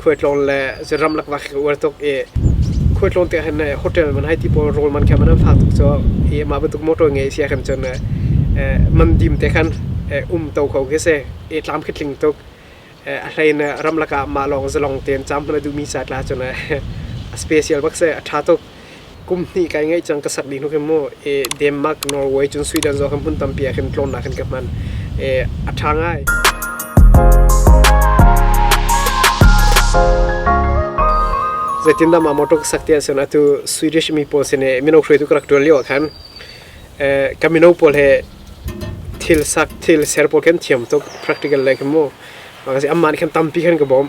khualtlawng le zeram lakvak ka uar tuk i khualtlawng te khan hotel man hai ti pawl rawl man kha man an fak tuk cu i ma batuk motor nge sia kan chon man dim te khan um to kho ke se e tlam khitling tuk a hlain ramlak ah ma lawng zalong ten cham hna duhmi sa tla chon a special bak se a tha tuk kum hnih kai ngai cang ka sak ding hnu khin mu e Denmark Norway cun Sweden zo khan hmun tampi ah khin tlawmnak khin ka hman e a tha ngai zeitin dah ma motor ka sak ti ah cun atu Swedish mi pawl sin e mino hruaitu ka rak tuan lio ah khan e ka mino pawl he thil sak thil ser pawl khan thiam tuk practical le khan mu mangasi amma nih khan tampi khan ka bawm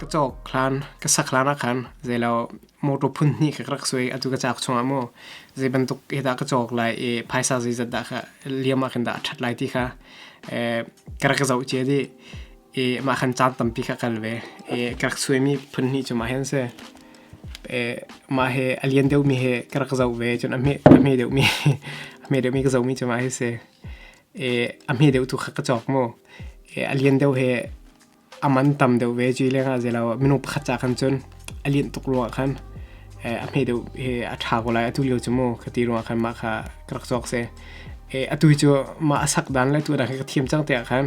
Ka cawk hlan, ka sak hlan ahkhan zeilo motor phun hnih ka rak suai atu ka cak chungah maw. Zei bantuk hidah ka cawk lai i phaisa zeizat dah ka liam ahkhan dah a ṭhat lai ti kha ka rak zoh cia dih. I mah khan caan tampi kha kal ve. I ka rak suaimi phun hnih cu mah hi an si. Mah hi a lian deuhmi hi ka rak zoh ve cun a hme deuhmi, a hme deuhmi ka zohmi cu mah hi a si. a hme deuh tu kha ka cawk mu a lian deuh hi a man tam deuh ve cui leng ah zelo minung pakhat ca khan cun a lian tuk ruang khan a hme deuh hi a ṭha ko lai atu lio cu mu ka ti ruang khan mah kha ka rak cawk se atu cu mah a sak dan le tu dang hi ka thiam cang te ah khan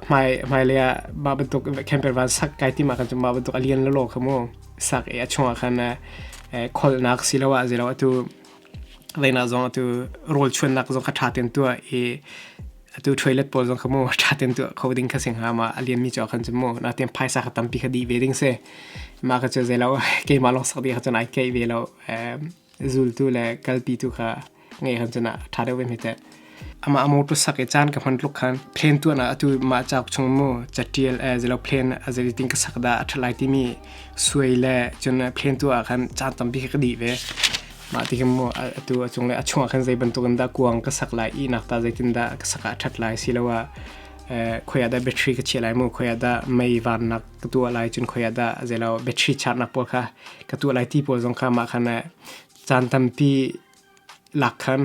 hmai hmai le ah ba bantuk camper van sak kai ti ma khan cu ma bantuk a lian lo lo kha mu sak a chung ah khan kholnak si lo ah zelo atu Reinak zong atu rawlchuannak zong kha ṭha ten tuah i atu toilet pawl zong kha mu ṭha ten tuah kho ding kha si hnga ma a lian mi cho khan chu mu na ten phaisa kha tampi kha di ve ding se ma ka chu zai lo keimah long sak di kha chun ai kei ve lo zultu le kalpi tu kha nge khan chuna ṭha deuh ve mi te Ama a motor sak i caan ka hman tluk khan plane tuan ah atu mah cauk chung mu catial eh zelo plane azeli ting ka sak da a that lai timi suai le cun plane tu ah khan caan tampi ka di ve mah ti khin mu atu a chung le a chung ah khan zei bantuk in dah kuang ka sak lai i nak ta zeitin dah ka sak ah a that lai siloah khoia dah battery ka chiah lai mu khoia dah mei van nak ka tuah lai cun khoia dah zelo battery charge nak pawl kha ka tuah lai ti pawl zong kha mah khan caan tampi lak khan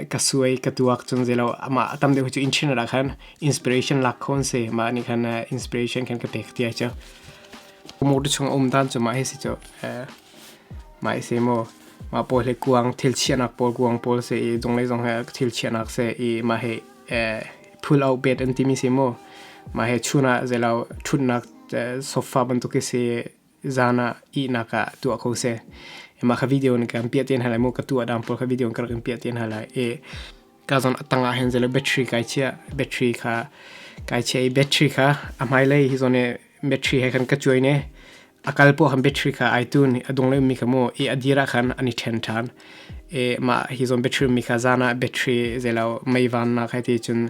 ka suai ka tuak chung zelo ama atam deuh chu inchina la khan inspiration lak khon se ma ni khan inspiration khan ka pek tia chu mo tu chung om dan chu ma hi si chu mai se mo ma pol he kuang thil chianak pol kuang pol se i dong le dong he thil chianak se i ma he pull out bed an ti mi se mo ma he chuna zelo thunnak sofa bantuk si zan ah ihnak ah tuah kho seh. Mah kha video ni kan piah tian halai mu ka tuah dang pol kha video kan kan piah tian halai. E ka zon atang ah hen zelo battery kai chia battery kha kai chia i battery kha a mai lei hi zone battery he kan ka chuai ne akal po ham battery kha itun adung le mi kamo e adira khan ani then than e ma hi zon battery mi kha zana battery zelo mai van na khai ti chun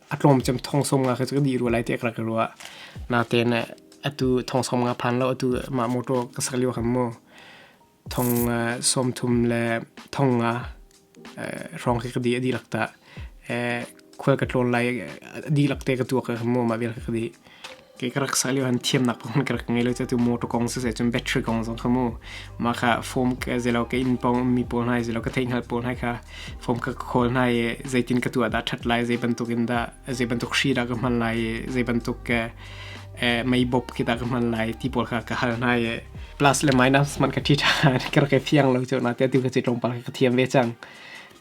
a tlawm cem thong som nga ka di ruwa lai te ka ka ruwa na te ne atu thong som nga phan lo atu ma motor ka sak liwa kham mo thong som thum le thong nga rong ka di adi lakta khwal ka tlon lai adi lakte ka tua ka mo ma vel ka di Kei ka rak sa lio han thiamnak kong ka rak ngei lo cu tu motor kong siseh cun battery kong zong kha mu. Mah kha phone ka zei lo ka inn pawng mi pawl hna zei lo ka theihhngalh pawl hna kha phone ka khawl hna i zeitin ka tu ah dah a ṭhat lai zei bantuk in dah zei bantuk hri dah ka hman lai i zei bantuk ke mei bawp khi dah ka hman lai ti pawl kha ka hal hna i plus le minus hmanh ka ṭi ṭhan ka rak i fiang lo cu na tiah atu kha cu tlawmpal kha ka thiam ve cang.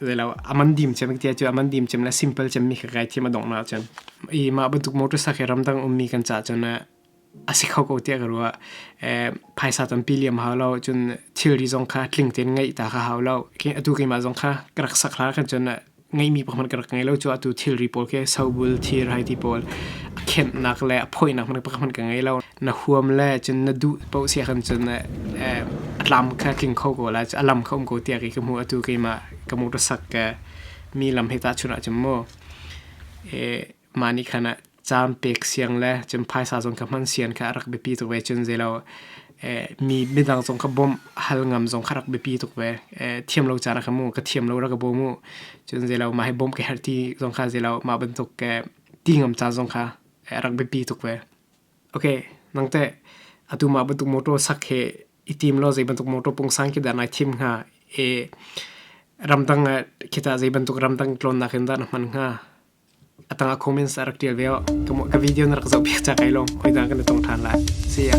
Zelo aman dim chem kia chu aman dim chem la simple chem mi kai thim adong na chem. I ma bantuk motor sakhe ramdang ummi kan cha chem na asikho ko tia karua paisa tam piliam hau lau cun thilri zong kha tling ten ngai ta kha hau lau. Atu ke ma zong kha karak sakra kan chem na ngai mi pohman karak ngai lau chu atu thilri pol ke sobul thir hai ti pol a kemp nak le a poi nak man pohman ka ngai lau. Na huam le cun na duh paoh siah khan cun a tlam kha tling kho ko la, a lam kha um ko tiah kei ka hmuh. Atu keimah ka mursak mi lam hi tahchunh ahcun maw mah nih khan caan pek siang le cun phaisa zong kha hman sian kha a rak biapi tuk ve. Cun zei lo mi midang zong kha bawmh hal ngam zong kha a rak biapi tuk ve. Thiam lo ca rak ka mu, ka thiam lo rak ka bawm u. Cun zei lo mah hi bawmh ka herh ti zong kha zei lo mah bantuk ti ngam ca zong kha a rak biapi tuk ve. Okay, nangte atumah bantuk motor sak he i tim lo zei bantuk motor pungsang ki da nai thim nga e ramdang kita zei bantuk ramdang tlonnak in dah na hman nga atanga comments a rak tial ve ka video na rak zoh piak ca kai long oi da kan i tong than lai see ya